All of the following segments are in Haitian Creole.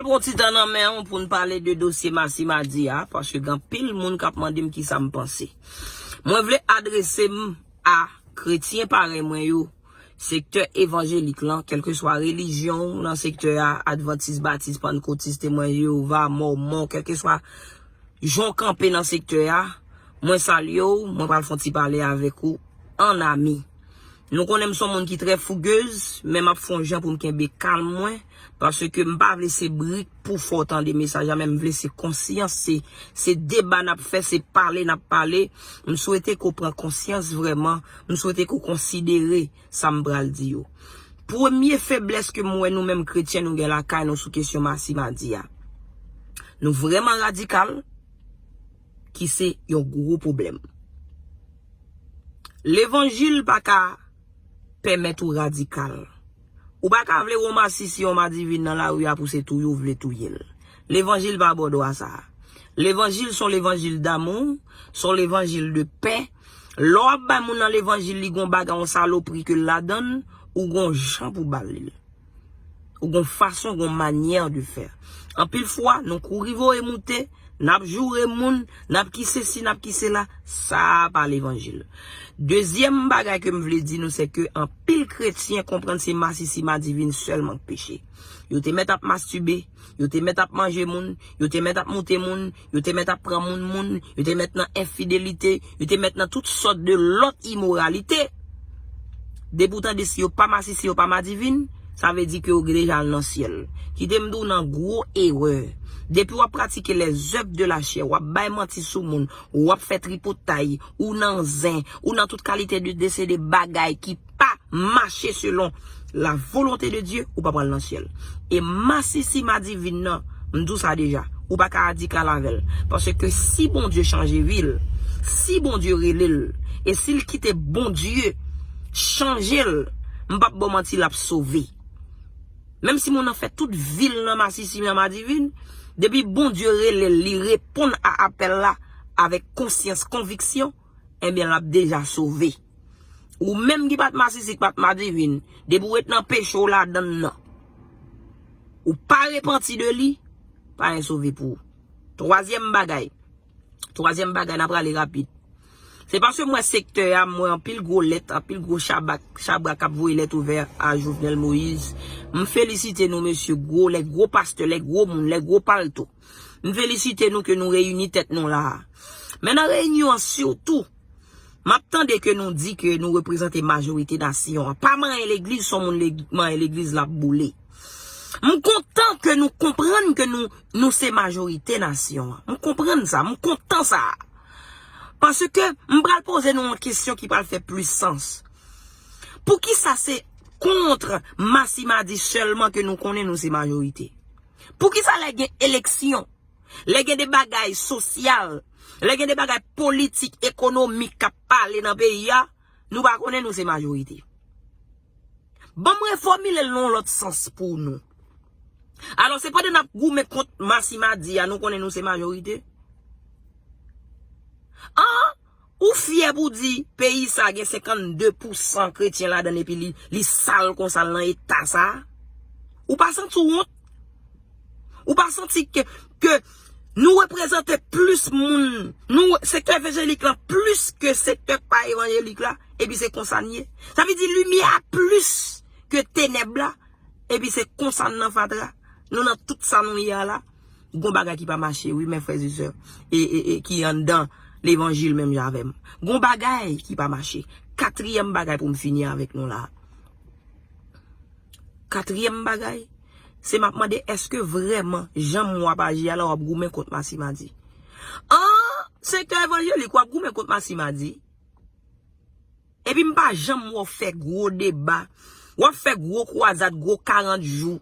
Pran ti tan nan men w pou n pale de dosye Massy Madi a, paske gen anpil moun k ap mande m kisa m panse. Mwen vle adrese m a kretyen parèy mwen yo, sektè evanjelik lan, kèlkeswa relijyon w nan sektè a, advantis, batis, pannkotis, temwen Jewova, mòmon, kèlkeswa jan w kanpe nan sektè a, mwen salye w, mwen pral fè yon ti pale avèk ou an ami. Nou konnen m s on moun ki trè fouguez, men m ap fè yon jan pou m kenbe kalm mwen. Paske m pa vle se brik pou fè w tande mesaj la men m vle se konsyans se se deba n ap fè se pale n ap pale m swete ke w pran konsyans vrèman m swete ke w konsidere sa m pral di yo premye feblès ke m wè nou menm kretyen nou gen lakay nou sou kesyon masi madi a nou vrèman radikal ki se yon gwo pwoblèm levanjil pa ka pèmèt ou radikal. Ou pa ka vle yon masisi, yon madivin nan lari a pou se touye ou vle touye l. Levanjil pa ba w dwa sa a. Levanjil s on levanjil damou, s on levanjil de pè. Lè w ap bay moun nan levanjil li gen yon bagay, yon salopri ke l ladan l, ou gen yon jan pou w ba l li. Ou gon fason, gon manyè de fè. Anpil fwa, nou kouri voye moute, n ap joure moun, n ap ki sesi, n ap ki sela, sa a pa levanjil. Dezyèm bagay ke m vle di nou se ke anpil kretyen konprann se masisi madivin sèlman k peche. Yo te mèt ap mastube. Yo te mèt ap manje moun, yo te mèt ap moute moun, yo te mèt ap pran moun moun, yo te mèt nan enfidelite, yo te mèt nan tout sòt de lòt imoralite. Depi w tande si yo pa masi, si yo pa madivin, sa vle di ke yo deja al nan syèl. Kite m di w nan gwo erè. Depi w ap pratike lèzèv de lachè, w ap bay manti sou moun, w ap fè tripotay, ou nan zen, ou nan tout kalite de desede bagay ki. pa mache selon la volonte de Dye ou pa pral nan syèl e masisi madivin nan m di w sa deja ou pa ka adikal avèl paske si Bondye chanje vi l si Bondye rele l e si l kite Bondye chanje l m pap ba w manti l ap sove menm si moun nan fè tout vi l nan masisi nan madivin depi Bondye rele l li reponn a apèl la avèk konsyans konviksyon. Enben lap deja sove. Ou menm ki pat masisi ki pat madivin, depi ou ret nan peche ou ladann nan, ou pa repanti de li, pa gen sove pou ou. Twazyèm bagay, twazyèm bagay na prale rapid. Se paske m wè sektè a, m wè anpil gwo lèt, anpil gwo chabak, chabrak kap voye lèt ouvè a Jovenel Moïse. M felisite nou mesye, gwo lè, gwo pastè, lè gwo moun, lè gwo palto. M felisite nou ke nou reyini tèt nou la a. Men nan reyinyon an sitou, m ap tande ke nou di ke nou reprezante majorite nasyon an. Pa manyen legliz, si yon moun manyen legliz l ap boule. M kontan ke nou konprann ke nou se majorite nasyon an. M konprann sa, m kontan sa. Paske m pral poze nou yon kesyon ki pral fè plis sans. Poukisa se kontr Masimadi sèlman ke nou konnen nou se majorite? Poukisa lè gen eleksyon, lè gen de bagay sosyal, lè gen de bagay politik, ekonomik k ap pale nan peyi a, nou pa konnen nou se majorite? Ban m refòmile l nan yon lòt sans pou nou. Alò, se pandan n ap goumen kont masimadi a nou konnen nou se majorite? An! Ou fyè pou di peyi sa gen 52 pou san kretyen ladan l epi li sal konsa l nan eta sa? Ou pa santi w wont? Ou pa santi ke ke nou reprezante plis moun nou sektè evanjelik lan plis ke sektè k pa evanjelik la epi se konsa n ye? Sa vle di limyè a plis ke tenèb la epi se konsa n nan fatra nou nan tout sa nou ye a la? Gon bagay ki pa mache wi mes frères et sœurs et et ki anndan levanjil menm jan avèm. Gon bagay ki pa mache. Katriyèm bagay poum fini avèk nou la. Katriyèm bagay se map mande eske vrèman janm wè wap aji a la wap goumen kont Masimadi. An sektè evanjelik wap goumen kont Masimadi? Epi m pa janm wè w fè gwo deba. W ap fè gwo kwazad, gwo 40 jou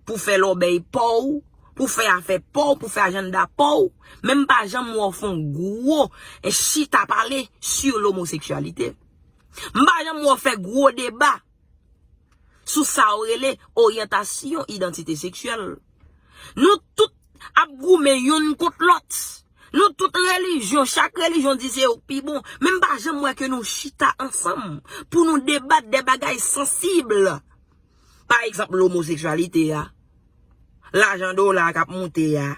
pou w fè lòbèy pa w, pou w fè afè pa w, pou w fè ajannda pa w. Men m pa janm wè w fè yon gwo chita pale sou lomoseksyalite. M pa janm wè w fè gwo deba. sou sa ou rele oryantasyon idantite seksyèl. Nou tout ap goumen youn kont lòt. Nou tout relijyon, chak relijyon di se yo k pi bon. Men m pa janm wè ke nou chita ansanm pou nou debat de bagay sansib. Pa egzanp lomoseksyalite a, lajan dola a k ap moute a,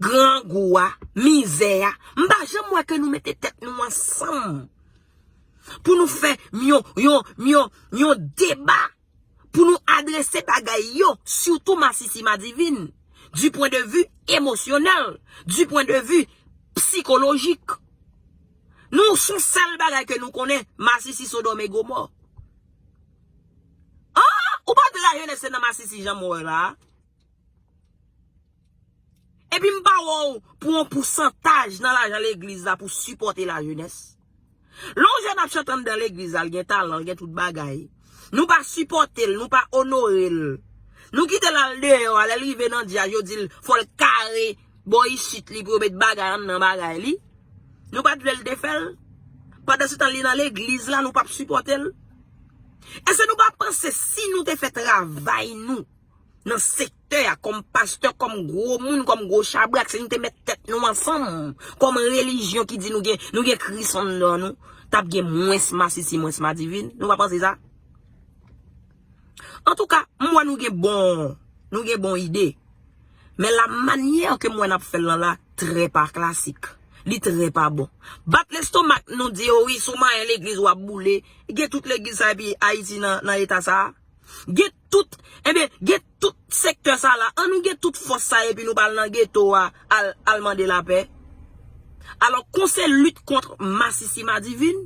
grangou a, mizè a. M pa janm wè ke nou mete tèt nou ansanm. Pou nou fè yon deba. Pou nou adrese bagay yo. Sitou masisi madivin. Du pwen de vu emosyonèl. Du pwen de vu psikolojik. Nou sou sèl bagay ke nou konnen. Masisi sodòm e gomò. Ou pa di lajenès se nan masisi jan mwen wè la a. Epi m pa wè w pou yon pousantaj nan lajan legliz la pou sipòte lajenès. Lè yon jèn ap chante anndan legliz la, l gen talan, l gen tout bagay, nou pa sipòte l, nou pa onore l. Nou kite l al deyò a, lè l rive nan djaz yo di l fò l kare bò isit li pou yo met bagay anndan bagay li. Nou pa t vle l te fè l? Pandansetan li nan legliz la nou pa p sipòte l? Èske nou pa panse si nou te fè travay nou nan sektè. Pastè a kòm pastè, kòm gwo moun, kòm gwo chabrak, si nou te met tèt nou ansanm, kòm relijyon ki di nou gen, nou gen Kris anndan nou, tap gen mwens masisi, mwens madivin, nou pa panse sa? Antouka, m wè nou gen bon, nou gen bon ide. Men la manyè ke m wè nap fèl lan la, trè pa klasik. Li trè pa bon. Bat lestomak nou di yo wi, si w manyen legliz wap boule, gen tout legliz sa epi Ayiti nan eta sa? Gen tout enben gen tout sektè sa la an nou gen tout fòs sa epi nou pa al nan geto a al mande lapè alò kon se lit kont masisi madivin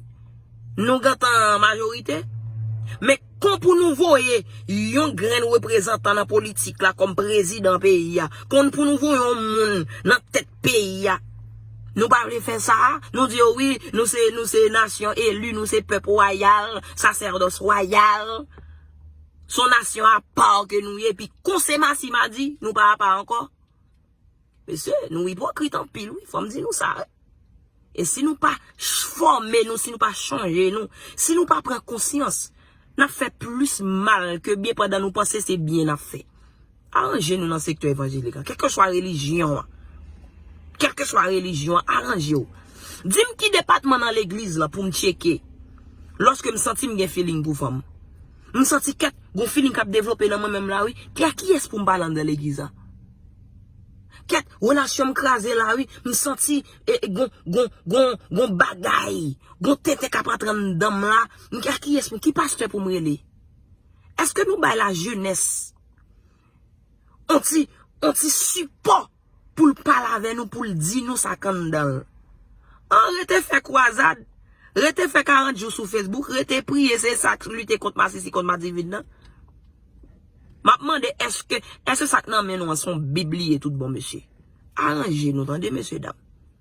nou gentan an majorite men kon pou nou voye yon grenn reprezantan nan politik la kòm prezidan peyi a kon pou nou voye yon moun nan tèt peyi a nou pa vle fè sa a nou di yo wi nou se nou se nasyon eli nou se pèp wayal sasèdòs wayal. Son nasyon a pa w ke nou ye, pi konse masi madi, nou pa a pa anko. Mesye, nou ipokrit anpil wi, fom di nou sa wi. E si nou pa chfome nou, si nou pa chanje nou, si nou pa pran konsyans, nap fe plis mal ke byen pandan nou panse se byen nap fe. Aranje nou nan sektè evanjelik la. Kèlkeswa relijyon an. Kèlkeswa relijyon an, aranje w. Di m ki depatman nan legliz la pou m tcheke. Lòske m santi m gen filing pou fanm. M santi kèk gon filing k ap devlope nan mwen menm la wi. Ki a kiyès pou m pale anndan legliz la. Kèk relasyon m kraze la wi. M santi e gon, gon, gon, gon bagay. Gon tenten k ap antre anndan m la. M ki a kiyès pou m, ki pastè pou m rele. Èske nou bay lajenès. On ti, on ti sipò pou l pale avè nou, pou l di nou sa k anndan l. An rete fè kwazad, rete fè 40 jou sou Facebook, rete priye, se sa k lite kont masisi, kont madivid nan? M ap mande èske, èske sa k nan men nou an se yon bib li ye toutbon mesye? Aranje nou tande mesye dam.